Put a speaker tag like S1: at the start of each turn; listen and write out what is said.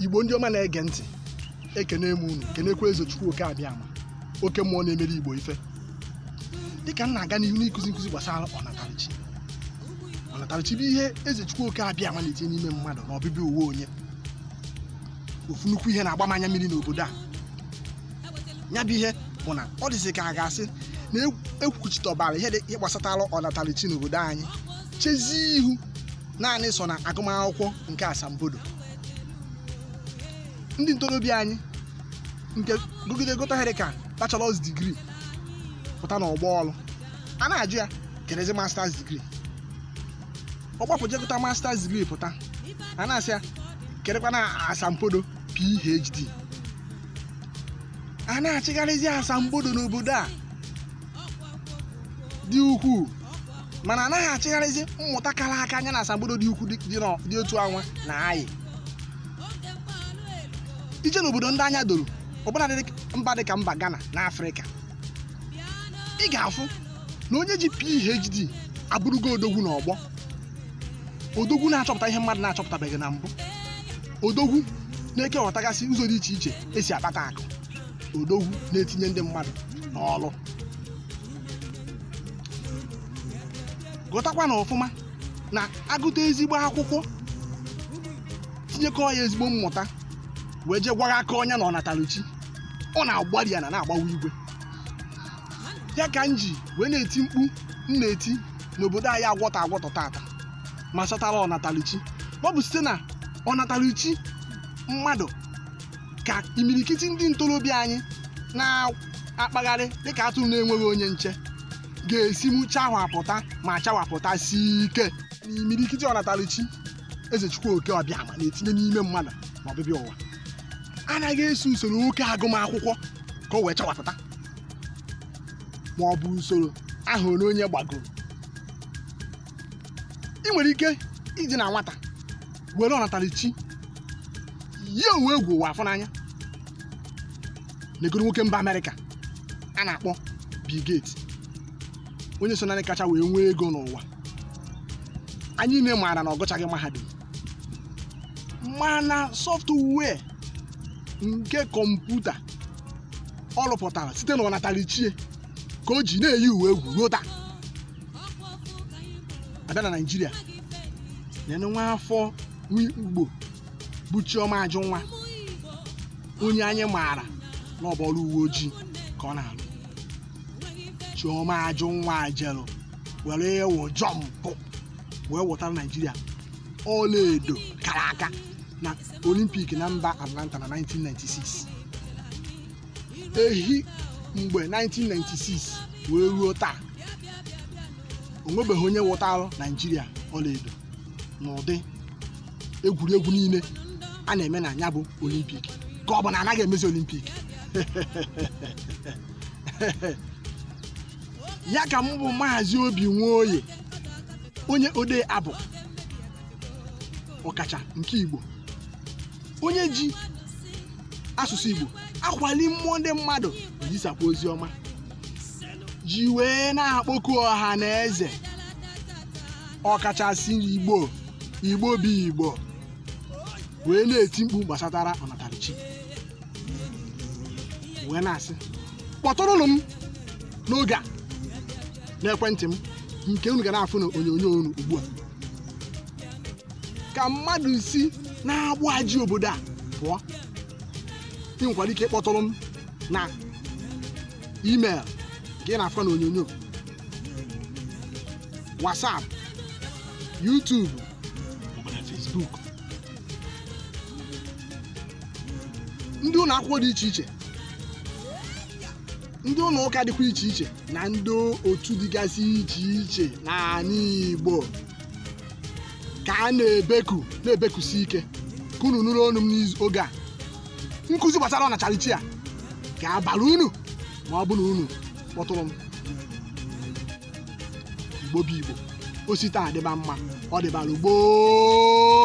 S1: igbo ndị ọma na-ege ntị ekene m unu kenekwa eze chukwu oke abịama oke mmụọ na-emere igbo ife dịka m na-aga n'ihu n'ịkụzi nkụzi gbasara ọnatarachi ọnatarachi bụ ihe eze chukwu oke abịama na-etinye n'ime mmadụ na ọbịbịa ụwa onye ofu nnukwu ihe na-agba m anya mmiri n'obodo a ya bụ ihe bụ na ọ dịzi ka a ga-asị na ekwuchitọbara ihe gbasatara ọnatarachi n'obodo anyị chezie ihu naanị so na agụmakwụkwọ nke asambodo ndị ntorobịa anyị nke gụgide gụta ihe dịka bachelors degree pụta n'ọgbọ ọrụ a na-ajụ ya kedụzi masters degree ọ gbapụ je gụta masters degree pụta a na-asị ya kedụkwanụ asambodo phd a na-achịgharịzi asambodo n'obodo a dị ukwuu mana a naghị achịgharịzi mmụta kara aka nya na asambodo dị ukwuu dị otu anwa na-ayị ije n'obodo ndị anya doro ọbụna mba dị ka mba Ghana na Afrịka ị ga-afụ na onye ji PhD abụrụgo odogwu n'ọgbọ odogwu na-achọpụta ihe mmadụ na-achọpụtabeghị na mbụ odogwu na-ekewọtagasị ụzọ dị iche iche e si akpata akụ odogwu na-etinye ndị mmadụ n'ọrụ ghọtakwanụ ọfụma na a gụta ezigbo akwụkwọ tinyekọ ya ezigbo mmụta wee jee gwaghakọọ nya na ọnatarachi ọ na-agbari ana na-agbawa igwe ya ka m ji wee na-eti mkpu m na-eti n'obodo anyị agwọtọ agwọtọ taata gbasatara ọnatarachi ọ bụ site na ọnatarachi mmadụ ka imirikiti ndị ntorobịa anyị na-akpagharị dịka atụrụ na-enweghị onye nche ga-esi mụ chawapụta ma chawapụtasie ike na imirikiti ọnatarachi eze chukwu oke abịama na-etinye n'ime mmadụ na ọbịbịa ụwa anaghị eso usoro oke agụmakwụkwọ ka o wee chawapụta ma ọ bụ usoro ahọ ole onye gbagoro ị nwere ike iji na nwata were ọnatarachi ya onwe egwu ụwa afọ n'anya negodu nwoke mba amerịka a na-akpọ Bill Gates onye so na ndị kacha wee nwee ego n'ụwa anyị niile maara na ọ gụchaghị mahadum mana software nke kọmputa ọ rụpụtara site na ọnatarachi ya ka o ji na-eyi ụwa egwu ruo taa a bịa na naijiria neenụ nwa afọ nwa igbo bụ chioma ajunwa onye anyị maara na ọ bụ ọrụ uwe ojii ka ọ na-alụ chioma ajunwa jelu were ịwụ jọmpụ wee wụtara naijiria ọlaedo kara aka olimpik na mba atlanta na 1996 ehi mgbe 1996 wee ruo taa o nwebeghị onye wụtara naijiria ọlaedo n'ụdị egwuregwu niile a na-eme na ya bụ olimpik ka ọ bụ na anaghị emezi olimpik ya ka m bụ maazị obi nwoye onye odee abụ ọkacha nke igbo onye ji asụsụ igbo akwali mmụọ ndị mmadụ ezisakwa ozi ọma ji wee na-akpọku ọha na eze ọkachasị igbo igbo bụ igbo wee na-eti mkpu gbasatara ọnatarachi wee na-asị kpọtụrụnụ m n'oge a n'ekwentị m nke unu ga na-afụ na onyonyo unu ugbu a ka mmadụ si n'agbụ a ji obodo a pụọ ị nwekwara ike ịkpọtụrụ m na email nke ị na-afụ na onyonyo whatsapp youtube maọbụ na facebook ndị ụlọ akwụkwọ dị iche iche ndị ụlọ ụka dịkwa iche iche na ndị otu dịgasị iche iche n'ala igbo ka a na-ebeku na-ebekusi ike ka unu nụrụ onu m n'oge a nkụzi gbasara ọnatarachi a ga-abara unu ma ọ bụ na unu kpọtụrụ m igbo bụ igbo o si taa dịba mma ọ dịbara gboo